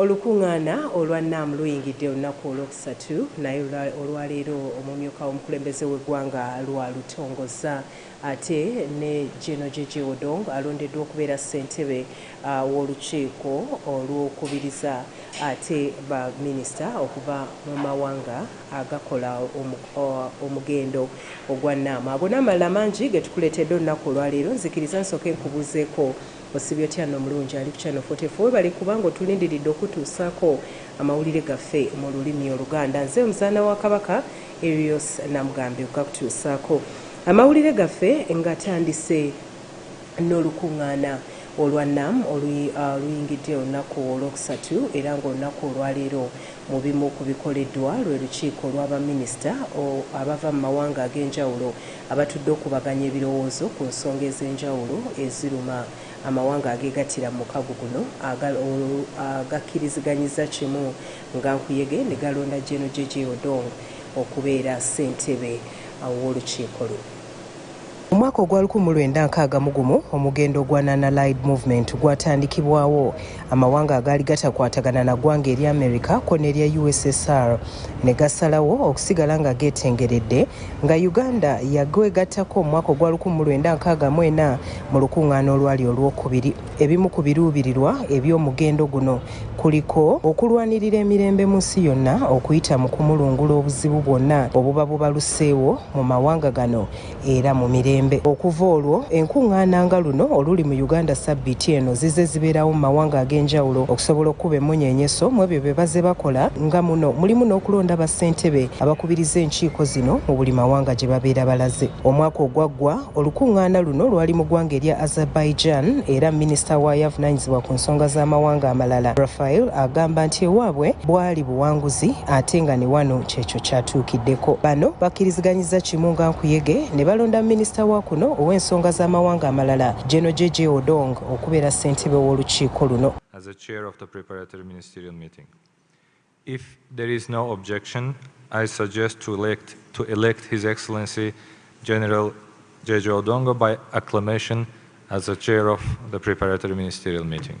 Olukung'aana olwa NAM luyingidde olunaku olwokusatu naye olwaleero omumyuka w'omukulembeze w'eggwanga lwalutongoza ate ne Gen Jeje Odong alondeddwa okubeera ssentebe w'olukiiko olw'okubiriza ate ba minisita okuva mu mawanga agakola omugendo ogwa NAM. Ago n'amalala mangi getukuleetedde olunaku olwaleero, nzikiriza nsooke nkubuuzeeko Osibye otya no mulungi ali ku channel 44 webale kuba nga otulindiridde okutuusako amawulire gaffe mu lulimi oluganda nze omuzaana wa kabaka Erios Namugambe okugakutuusaako amawulire gaffe nga tandise n'olukungaana olwa nam uh, oluyingidde olunaku olwokusatu era ngaolunaku olwaleero mu bimu ku bikoleddwa lwe lukiiko lw'abaminisita abava mu mawanga ag'enjawulo abatudde okukubaganya ebirowoozo ku nsonga ez'enjawulo eziruma amawanga ageegattira mu mukago guno agal olwo agakkiriziganyizza kimu nga nkuyege ne galonda Gen JJ Odong okubeera ssentebe w'olukiiko luno. Mu mwaka ogwa lukumi mu lwenda nkaaga mu gumu omugendo gwa Non-Allied Movement gwatandikibwawo, amawanga agaali gatakwatagana na ggwanga erya america ko nerya ussr ne gasalawo okusigala nga geetengeredde nga uganda yagwegattako omwaka ogwa 1964 mu lukuŋŋaana olwali olwokubiri ebimu ku biruubirirwa eby'omugendo guno kuliko okulwanirira emirembe mu nsi yonna okuyita mu kumulungula obuzibu bwonna obuba bubaluseewo mu mawanga gano era mu mirembe okuva olwo enkuŋŋaana nga luno oluli mu uganda sabbiiti eno zize zibeerawo mu mawanga ag'enjawulo okusobola okukuba emmunyeenyeso mu ebyo bye baze bakola nga muno mulimu n'okulonda bassentebe abakubiriza enkiiko zino mu buli mawanga gye babeera balaze omwaka ogwaggwa olukuŋŋaana luno lwali mu ggwanga erya azerbaijan era minisita waayo avunaanyizibwa ku nsonga z'amawanga amalala rafael agamba nti ewaabwe bwali buwanguzi ate nga ne wano Kyekyo kyatuukiddeko bano bakkiriziganyizza kimu nga nkuyege ne balonda minisita wa kuno ow'ensonga z'amawanga amalala General JJ Odong okubeera ssentebe w'olukiiko luno. As a chair of the preparatory ministerial meeting, if there is no objection, I suggest to elect, to elect His Excellency General JJ Odongo by acclamation as the chair of the preparatory ministerial meeting.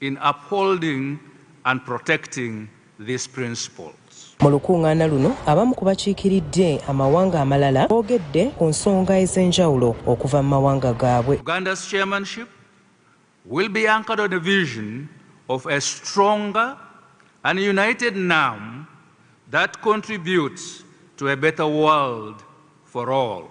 in upholding and protecting these principles. Mu lukungaana luno abamu ku bakiikiridde amawanga amalala boogedde ku nsonga ez'enjawulo okuva mu mawanga gaabwe. Uganda's chairmanship will be anchored on a vision of a stronger and united NAM that contributes to a better world for all.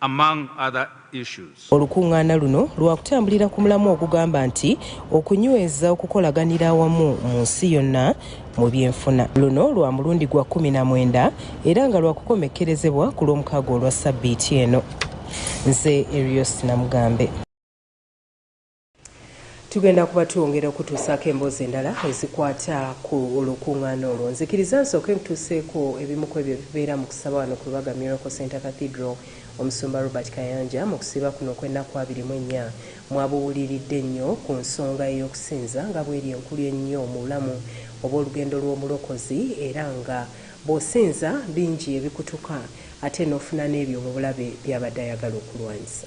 among other issues. Olukungaana luno lwakutambulira ku mulamwa ogugamba nti Okunyweza okukolaganira awamu mu nsi yonna mu by'enfuna. Luno lwa mulundi gwa kkumi na mwenda era nga lwakukomekkerezebwa ku lw'omukaaga olwa ssabbiiti eno. Nze Erios Namugambe. tugenda kuba twongera okutuusaako emboozi endala ezikwata ku olukuŋŋaana olwo nzikiriza nsooke nkutuuseeko ebimu ku ebyo ebibeera mu kusaba wano ku lubaga miracle center cathedral omusumba robert kayanja mu kusiiba kuno okw'ennaku abiri mu ennya mwabuwuliridde nnyo ku nsonga ey'okusinza nga bweri enkulu ennyo mu bulamu obw'olugendo lw'omulokozi era nga bw'osinza bingi ebikutuka ate n'ofuna n'ebyo mu bulabe by'abadde ayagala okulwanyisa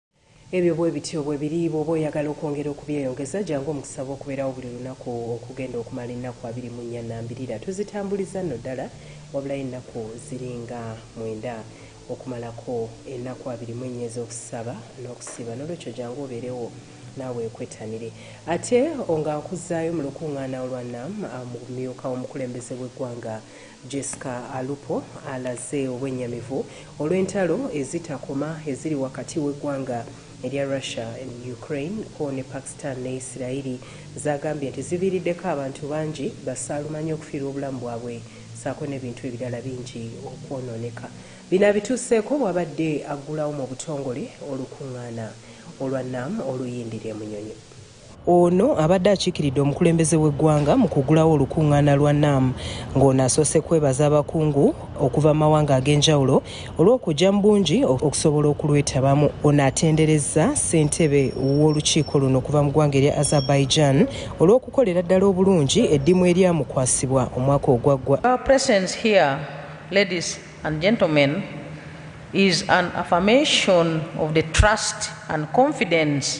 Ebyo bwe bityo bwe biri. Bw'oba oyagala okwongera okubyeyongeza, jangu omu kusaba okubeerawo buli lunaku okugenda okumala ennaku abiri mu nnya nnambirira. Tuzitambuliza nno ddala, wabulayo ennaku ziri nga mwenda okumalako ennaku abiri mu ennya ez'okusaba n'okusiiba. N'olwekyo jangu obeerewo, naawe wekwettanire. Ate o, nga nkuzzaayo mu lukuŋŋaana olwa nam, a, mu bumyuka w'omukulembeze w'eggwanga. Jesca Alupo alaze obwennyamivu olw'entalo ezitakoma eziri wakati w'eggwanga erya Russia and Ukraine kko ne Pakstan ne Yisirayiri z'agambye nti ziviiriddeko abantu bangi basaalumanya okufiirwa obulamu bwabwe ssaako n'ebintu ebirala bingi okwonooneka. Bino abituuseeko bw'abadde aggulawo mu butongole olukungaana olwa NAM oluyindira e Munyonyo. Ono abadde akiikiridde omukulembeze w'eggwanga mu kugulawo olukungaana lwa NAM ng'ono asoose kwebaza abakungu okuva mu mawanga ag'enjawulo olw'okujja mu bungi okusobola okulwetabamu. Ono atenderezza ssentebe w'olukiiko luno okuva mu ggwanga erya Azerbaijan olw'okukolera ddala obulungi eddimu eryamukwasibwa omwaka ogwaggwa. Your presence here, ladies and gentlemen, is an affirmation of the trust and confidence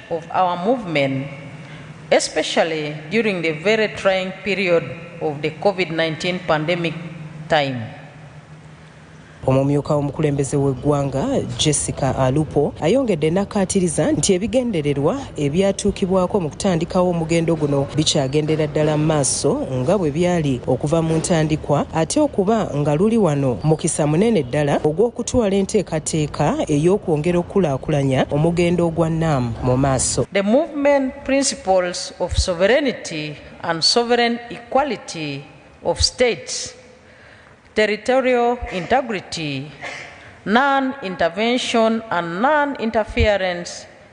of our movement especially during the very trying period of the COVID-19 pandemic time. Omumyuka w'omukulembeze w'eggwanga Jessica Alupo ayongedde n'akkaatiriza nti ebigendererwa ebyatuukibwako mu kutandikawo omugendo guno bikyagendera ddala mu maaso. maaso nga bwe byali okuva mu ntandikwa ate okuba nga luli wano mukisa munene ddala ogw'okutwala enteekateeka ey'okwongera okukulaakulanya omugendo ogwa NAM mu maaso. The movement principles of sovereignty and sovereign equality of states, territorial integrity, non-intervention and non-interference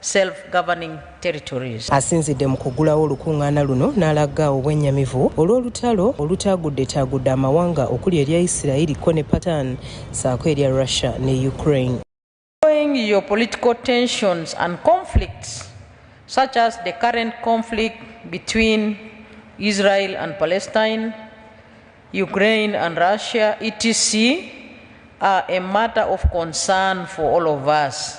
self governing territories. Asinzidde mu kuggulawo olukungaana luno n'alagga obwennyamivu olw'olutalo olutaagudde-taagudde amawanga okuli erya Yisirayiri ko ne Patan ssaako erya Russia ne Ukraine. Following geopolitical tensions and conflicts such as the current conflict between Israel and Palestine, Ukraine and Russia, etc., are a matter of concern for all of us.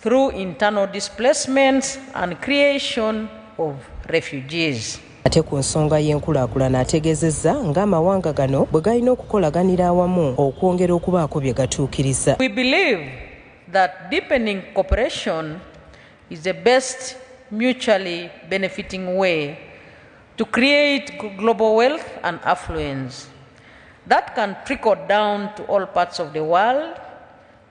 through internal displacements and creation of refugees. Ate ku nsonga y'enkulaakulana ategeezezza ng'amawanga gano bwe galina okukolaganira awamu okwongera okubaako bye gatuukiriza. We believe that deepening cooperation is the best mutually benefiting way to create global wealth and affluence that can trickle down to all parts of the world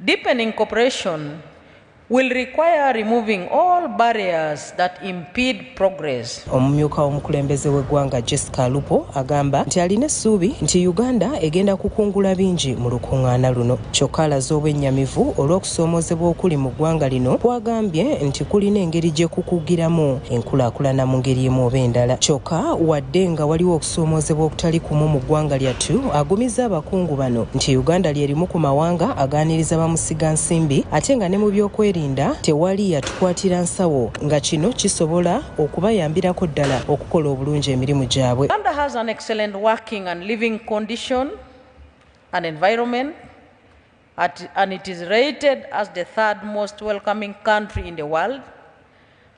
Deepening cooperation will require removing all barriers that impede progress. Omumyuka w'omukulembeze w'eggwanga Jessica Alupo agamba nti alina essuubi nti Uganda egenda kukungula bingi mu lukuŋŋaana luno kyokka alaze obwennyamivu olw'okusoomoozebwa okuli mu ggwanga lino kwagambye nti kulina engeri gye kukugiramu enkulaakulana mu ngeri emu oba endala kyokka wadde nga waliwo Okusoomozebwa okutali kumu mu ggwanga lyattu agumizza abakungu bano nti Uganda lyerimu ku mawanga agaaniriza bamusiga nsimbi ate nga ne mu byokwerinda tewali yatukwatira nsawo nga kino kisobola okubayambirako ddala okukola obulungi emirimu gyabwe. Uganda has an excellent working and living condition and environment at, and it is rated as the third most welcoming country in the world.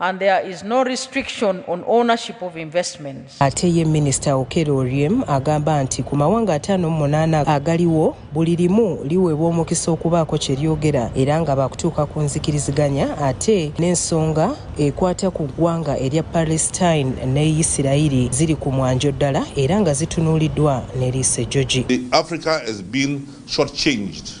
and there is no restriction on ownership of investments. Ate ye Minisita Okello Oryem agamba nti ku mawanga ataano mu munaana agaliwo buli limu liweebwa omukisa okubaako kye lyogera era nga baakutuuka ku nzikiriziganya ate n'ensonga ekwata ku ggwanga erya Palestine ne Yisirayiri ziri ku mwanjo ddala era nga zitunuuliddwa n'eriiso ejjogi. Africa has been short changed.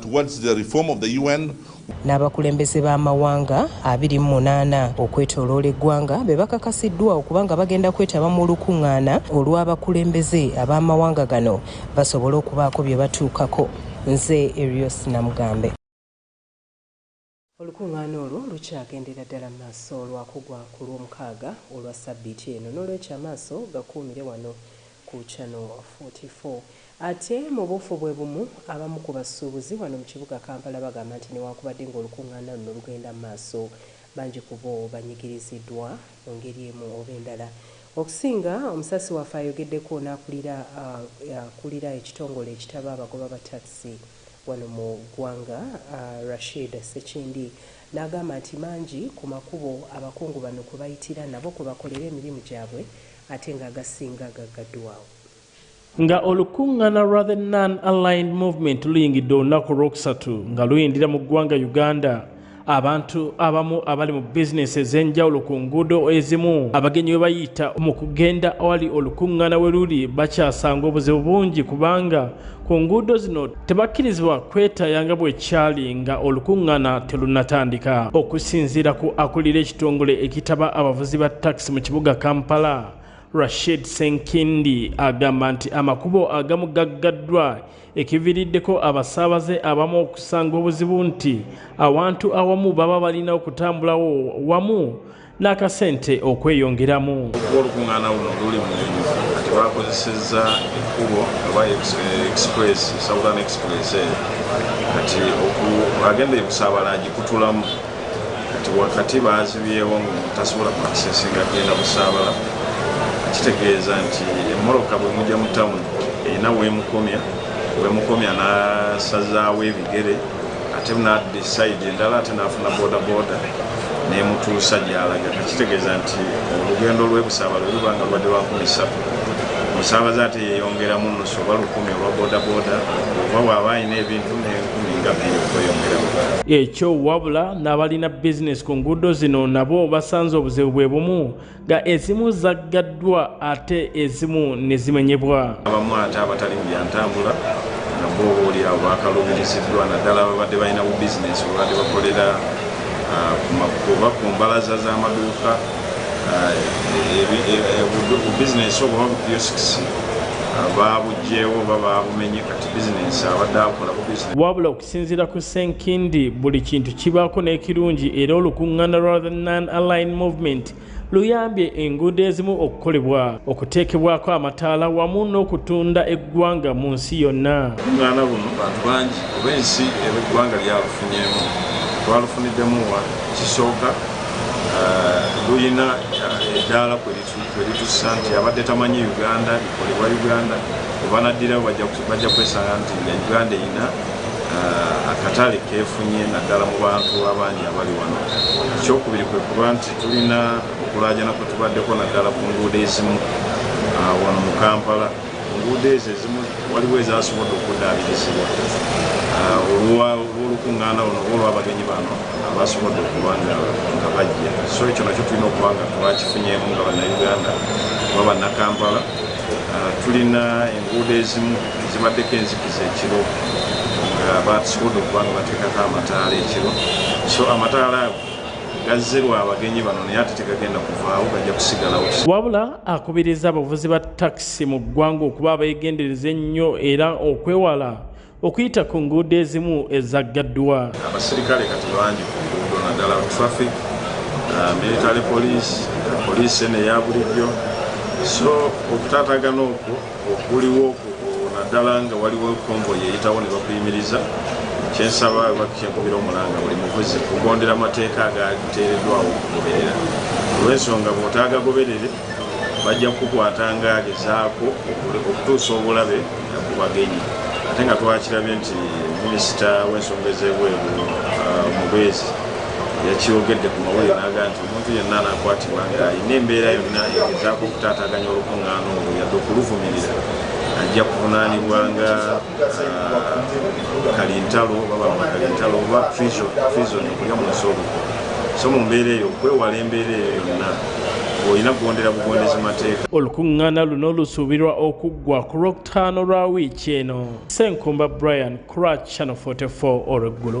towards the reform of the UN. N'abakulembeze b'amawanga abiri mu munaana okwetooloola eggwanga be bakakasiddwa okuba nga bagenda kwetaba mu lukung'aana olw'abakulembeze ab'amawanga gano basobole okubaako bye batuukako. Nze Erios Namugambe. Olukuŋŋaana olwo lukyagendera ddala mu maaso lwa kugwa ku Lwomukaaga olwa ssabbiiti eno. N'olwekyo amaaso gakuumire wano ku Channel 44. Ate mu buufu bwe bumu, abamu ku basuubuzi wano mu kibuga Kampala bagamba nti newankubadde ng'olukuŋŋaana luno lugenda mu maaso, bangi ku bo banyigiriziddwa mu ngeri emu oba endala. Okusinga, omusasi waffe ayogeddeko n'akulira akulira ekitongole ekitaba abagoba ba takisi, wano mu ggwanga Rashid Ssekindi n'agamba nti mangi ku makubo abakungu bano kwe bayitira nabo kwe bakolera emirimu gyabwe ate nga agasinga gaggaddwawo. Nga olukungana lwa The Non Aligned Movement luyingidde olunaku olw'okusatu nga luyindira mu ggwanga Uganda, abantu abamu abali mu bizinesi ez'enjawulo ku nguudo ezimu abagenyi we bayita mu kugenda awali olukuŋŋaana we luli bakyasanga obuzibu bungi kubanga ku nguudo zino tebakkirizibwa kwetaaya nga bwekyali nga olukuŋŋaana terunnatandika okusinziira ku akulira ekitongole ekitaba abavuzi ba takisi mu kibuga kampala rashid senkindi agamba nti amakubo agamu gaggaddwa ekiviriddeko abasaabaze abamu okusanga obuzibu nti awantu awamu baba balina okutambulawo wamu n'akasente okweyongeramu okuba olukuŋŋaana luno luli mu kati bakozesezza ekkubo oba express southern express eyo kati agenda ekusaabala agikutulamu kati wakati baazibyewo ngu tasobola kuakisesinga genda busaabala kitegeeza nti emoroka bwe mujja mu tawuni erina weemukomya weemukomya n'asazaawo ebigere ate naddi sayidi endala ate n'afuna bodaboda nemutuusa gyalaga kakitegeeza nti olugendo lwebusaabala luba nga lubadde lwankumi ssatu musaabaze ate yeyongeramu nusu oba lukumi olwa bodaboda oba waaba alina ebintu ekyo wabula n'abalina bizinesi ku nguudo zino nabo basanze obuzibu bwe bumu nga ezimu zaggaddwa ate ezimu ne zimenyebwa abamu ate abatali mu byantambula nabo obaolyawo bakaluubiriziddwa naddala babadde balina bu bizinesi babadde bakolera oba ku mbalaza z'amaduuka bubizinesi obuba bukiyosks baabugyewo oba baabumenye kati bizinensi abadde akola ku bizinensi wabula okusinziira ku senkindi buli kintu kibaako n'ekirungi era olukuŋŋaana lwa the non aline movement luyambye enguudo ezimu okukolebwa okuteekebwako amataala wamu n'okutunda eggwanga mu nsi yonna olukuŋŋaana luno bantu bangi oba ensi eba eggwanga lyalufunyeemu twalufuniddemu wa kisooka eh, lulina eddaala eh, kwe Eritussa nti abadde tamanyi Uganda ikolebwa Uganda webanaddirawo bajja kwesanga nti nga Uganda erina uh, akatale kefunye naddala mu bantu abangi abali wano. Ekyokubiri kwe kuba nti tulina okulaajana kwe tubaddeko naddala ku nguudo ezimu uh, wano mu Kampala. Enguudo ezo ezimu waliwo ezasobodde okuddaabirizibwa ah, olw'olukuŋŋaana luno oba olw'abagenyi bano abasobodde okuba nga bajja so ekyo nakyo tulina okuba nga twakifunyeemu nga bannayuganda oba bannakampala ah, tulina enguudo ezimu zibaddeko enzikiza ekiro nga batusobodde okuba nga bateekako amataala ekiro so amataala ago gazze lwa abagenyi bano naye ate tegagenda kuvaawo gajja kusigalawo wabula akubiriza abavuzi ba takisi mu ggwanga okuba abeegendereza ennyo era okwewala okuyita ku nguudo ezimu ezaggaddwa abaserikale kati bangi ku nguudo naddala traffic uh, military police poliisi eno eya bulijjo so okutaatagana okwo okuliwo naddala nga waliwo konvoyi eyitawo ne bakuyimiriza kyensaba bakyenkubira omulanga buli muvuzi kugondera amateeka agateereddwawo okugoberera olwensonga bwotaagagoberere bajja kukukwata ng'agezaako okutuusa obulabe ku bagenyi ate nga twakirabye nti minisita w'ensonga ez'ebweru uh, mubeezi yakyogedde ku mawulire naga nti omuntu yenna anakwatibwa ng'alina embeera yonna egezaako okutaataganya olukuŋŋaana olwo yadde okuluvumirira ajja kuvunaanibwa nga kalintalo babanga kalintalo oba prison okulya munsi obuko so mu mbeera eyo okwewala embeera eyo yonna olina kugondera bugondezi mateeka olukuŋŋaana luno lusuubirwa okuggwa ku lwokutaano lwa wiiki eno senkumba brian cratch channel 44 olweggulo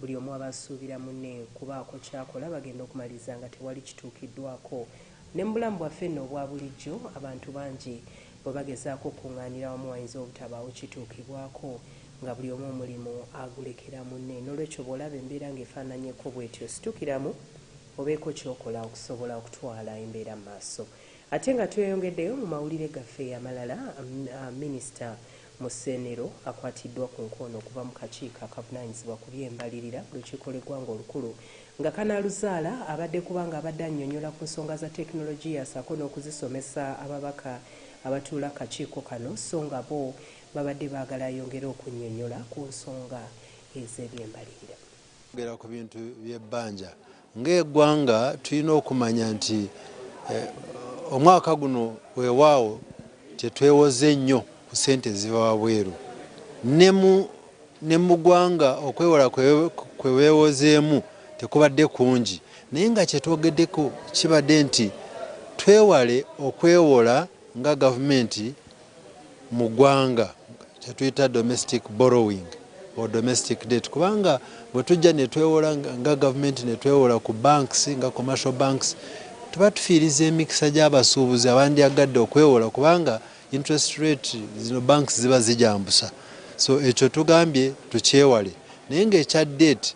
Buli omu aba asuubira munne kubaako ky'akola bagenda okumaliriza nga tewali kituukiddwaako. Ne mu bulamu bwaffe nno obwa bulijjo, abantu bangi bwe bagezaako okukung'aanira wamu wayinza obutabaawo kituukibwako nga buli omu omulimu agulekera munne. N'olwekyo bw'olaba embeera ng'efaananyeko bw'etyo situkiramu obeeko ky'okola okusobola okutwala embeera mu maaso. Ate nga tweyongeddeyo mu mawulire gaffe amalala, Minisita Musenero akwatiddwa ku nkoona okuva mu kakiiko akavunaanyizibwa ku by'embalirira mu lukiiko lw'eggwanga olukulu nga kanaaluzaala abadde kubanga abadde annyonyola ku nsonga za tekinologiya ssaako n'okuzisomesa ababaka abatuula kakiiko kano sso nga bo babadde baagala ayongere okunnyonyola ku nsonga ez'ebyembalirira. Okwogera ku bintu by'ebbanja Ng'eggwanga tulina okumanya nti omwaka guno weewaawo tetwewoze nnyo ku ssente eziva wabweru ne mu ggwanga okwewola kwe beewozeemu tekubadde kungi naye nga kye twogeddeko kibadde nti twewale okwewola nga gavumenti. mu gwanga kyetuyita domestic borrowing or domestic debt kubanga bwetujja netwewola nga gavumenti netwewola ku banks nga commercial banks tuba tufiiriza emikisa gy'abasuubuzi abandyagadde okwewola kubanga interest rate zino banks ziba zijambusa so ekyo tugambye tukyewale naye ngaekya date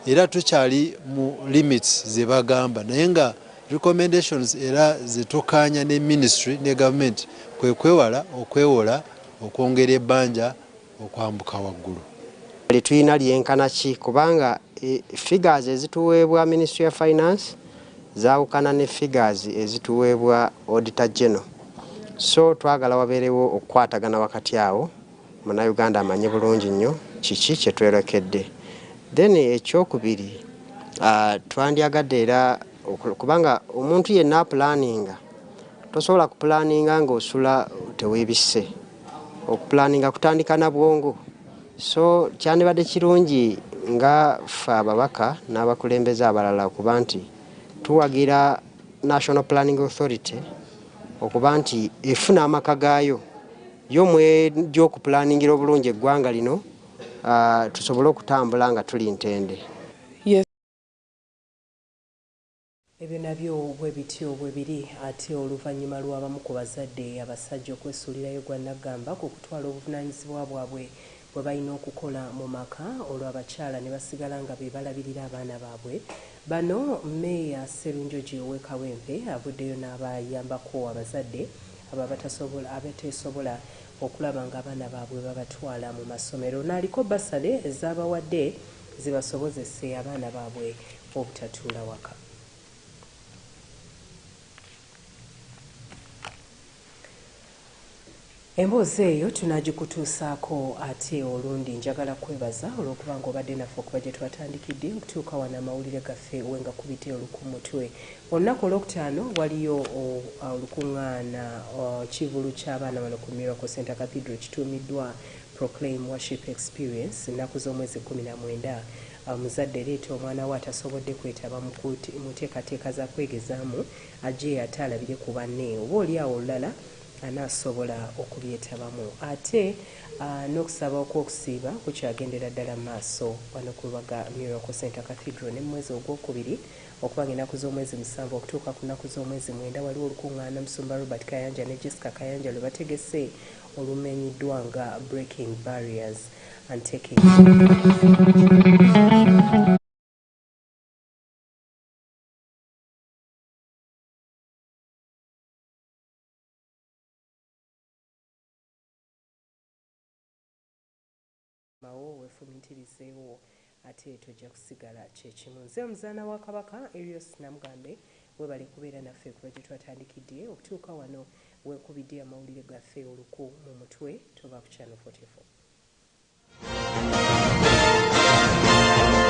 era tukyali mu limits zebagamba naye nga recommendations era zetukaanya ne ministry ne government kwekwewala okwewola okwongera ebanja okwambuka waggulu. Lyetuyina lyenkana ki kubanga e, figures ezituweebwa ministry ya finance zawukana ne figures ezituweebwa auditor general so twagala wabeerewo okukwatagana wakati awo. Munayuganda amanyi bulungi nnyo kiki kye twerekedde. Then ekyokubiri uh, twandyagadde era kubanga omuntu yenna apulaninga tosobola kupulaninga ng'osula teweebisse okupulaninga kutandika na bwongo so kyandibadde kirungi nga ffe ababaka n'abakulembeze abalala okuba nti tuwagira national planning authority okuba nti efuna amaka gaayo yo mwejja okupulaningira obulungi eggwanga lino uh, tusobole okutambula nga tuli ntende yes. ebyo nabyo bwe bityo bwe biri ate oluvannyuma lw'abamu ku bazadde abasajja okwesuulirayo gwa naggamba ku kutwala obuvunaanyizibwa bwabwe bwe balina okukola mu maka olwo abakyala ne basigala nga be balabirira abaana baabwe. Bano Mmeeya Sserunjogi ow'e Kawempe avuddeyo n'abayambako abazadde abo abatasobola abateesobola okulaba ng'abaana baabwe babatwala mu masomero naaliko bbasale z'abawadde zibasobozese abaana baabwe obutatuula waka. Emboozi eyo tunaagikutuusaako ate olundi. Njagala kukwebaza olw'okuba nga obadde naffe okuva gye twatandikidde okutuuka wano amawulire gaffe we ngakubidde oluku mutwe. Olunaku Olwokutaano waliyo olukung'aana, kivvulu ky'abaana wano ku Miracle Centre Cathedral ekituumiddwa Proclaim Worship Experience. Nnaku z'omwezi kkumi na mwenda. Omuzadde leeta omwana wo atasobodde kwetaba mu nteekateeka za kwegezaamu. Ajeyo ate alabire ku banne oba oli awo olulala anaasobola okubyetabamu. Ate n'okusaba okw'okusiiba kukyagendera ddala mu maaso wano ku lubaga Miracle Centre Cathedral ne mu mwezi ogw'okubiri okuba ng'ennaku z'omwezi musanvu okutuuka ku nnaku z'omwezi mwenda waliwo olukungaana Omusumba Robert Kayanja ne Jesca Kayanja lwe bategese olumenyiddwa nga Breaking Barriers and Taking mawo wefumintirizeewo ate tojja kusigala kyekimu. Nze omuzaana wa Kabaka Erios Namugambe webale kubeera naffe kuva gyetwatandikidde okutuuka wano wekubidde amawulire gaffe oluku mu mutwe tova ku channel 44.